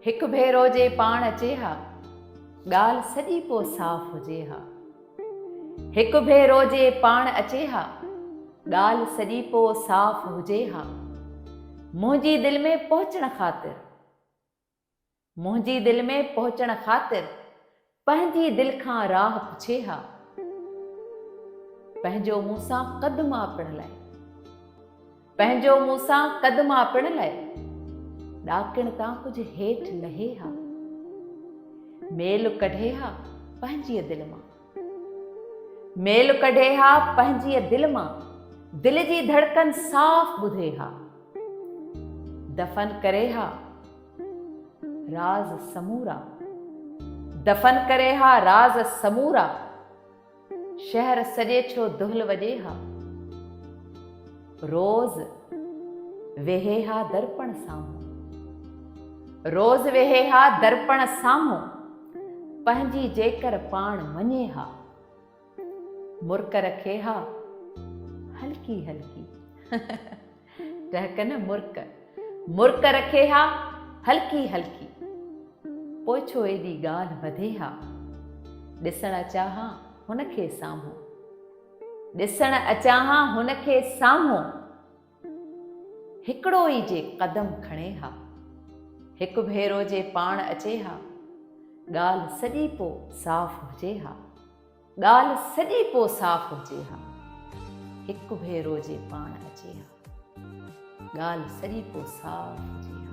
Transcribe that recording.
هڪ ڀيرو جي پاڻ اچي ها ڳالهه سڄي پو صاف هجي ها هڪ ڀيرو جي پاڻ اچي ها ڳالهه سڄي پو صاف هجي ها منهنجي دل ۾ پهچڻ خاطر منهنجي دل ۾ پهچڻ خاطر پنهنجي دل کان راهه پڇي ها. پنهنجو مون سان قد ماپڻ لئه. پنهنجو مون سان قد ماپڻ لئه. ڏاڪڻ تان ڪجهه هيٺ لهي ها. ميل ڪڍي ها پنهنجيء دل مان. ميل ڪڍي ها پنهنجيء دل مان. دل جي ڌڙڪن صاف ٻڌي ها. دفن ڪري ها. راز سمورا دفن ڪري ها راز سمورا شهر سڄي ڇو دهل وڄي ها روز ويهي ها درپڻ سامهون روز ويهي ها درپڻ سامهون پنهنجي جيڪر پاڻ مڃي ها مرڪ رکي ها هلڪي هلڪي ٽهڪ نه مرڪ مرڪ رکي ها هلڪي هلڪي پوء ڇو ايڏي ڳالهه وڌي ها ڏسڻ اچان ها هن کي سامهون ڏسڻ اچان ها هن کي سامهون هڪڙو ئي جي قدم کڻي ها. هڪ ڀيرو جي پاڻ اچي ها. ڳالهه سڄي پو صاف هجي ها. ڳالهه سڄي پو صاف هجي ها. هڪ ڀيرو جي پاڻ اچي ها. ڳالهه سڄي پو صاف هجي ها.